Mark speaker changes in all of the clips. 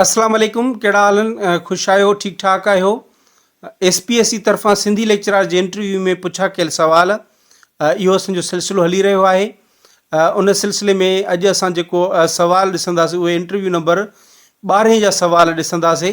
Speaker 1: اسلام عليڪم ڪهڙا حال آهن خوش آهيو ٺيڪ ٺاڪ آهيو ايس پي ايس سی طرفان سنڌي ليڪچرار جي انٽرويو ۾ پڇا ڪيل سوال اهو اسان جو سلسلو هلي رهيو آهي ان سلسلي ۾ اڄ اسان جيڪو سوال ڏسنداسي اهي انٽرويو نمبر ٻارهين جا سوال ڏسنداسي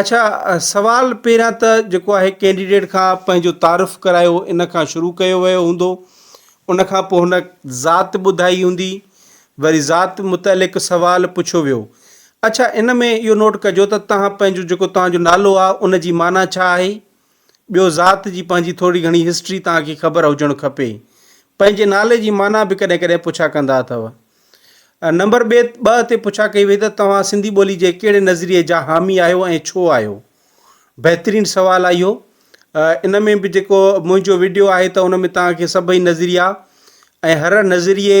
Speaker 1: اڇا سوال پهريان ته جيڪو آهي ڪينڊيڊيٽ کان پنهنجو تعارف ڪرايو ان کان شروع ڪيو ويو هوندو ان کان پوء هن ذات ٻڌائي هوندي وري ذات متعلق سوال پڇيو ويو اڇا ان ۾ اهو نوٽ ڪجو ته تهان پنهنجو جيڪو تهان جو نالو آهي ان جي معنيٰ ڇا آهي ٻيو ذات جي پنهنجي ٿوري گهڻي هسٽري توهان کي خبر هجڻ کپي. پنهنجي نالي جي معنيٰ به ڪڏهن ڪڏهن پڇا ڪندا اٿو. نمبر ٻئي ٻه تي پڇا ڪئي وئي ته توهان سنڌي ٻولي جي ڪهڙي نظريي جا حامي آهيو ۽ ڇو آهيو؟ بهترين سوال آ اهو. ان ۾ به جيڪو منهنجو وڊيو آهي ته ان ۾ توهان کي سڀئي نظريا ۽ هر نظريي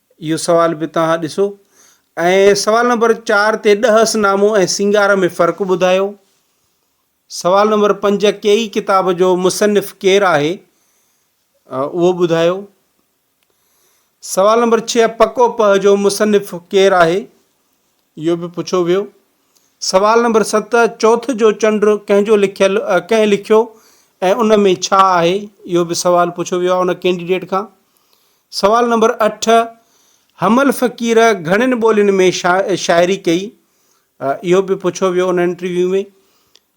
Speaker 1: اهو سوال به توهان ڏسو ۽ سوال نمبر چار تي ڏهس نامو ۽ سينگار ۾ فرق ٻڌايو. سوال نمبر پنج ڪيئي ڪتاب جو مصنف ڪير آهي اهو ٻڌايو. سوال نمبر ڇهه پڪو پهه جو مصنف ڪير آهي؟ اهو به پڇيو ويو. سوال نمبر ست، چوٿ جو چنڊ ڪنهن جو لکيل ڪنهن لکيو ۽ ان ۾ ڇا آهي؟ اهو به سوال پڇيو ويو آهي ان ڪينڊيڊيٽ کان. سوال نمبر اٺ، حمل فقير گهڻين ٻولين ۾ شاعري ڪئي؟ اهو به پڇيو ويو ان انٽرويو ۾.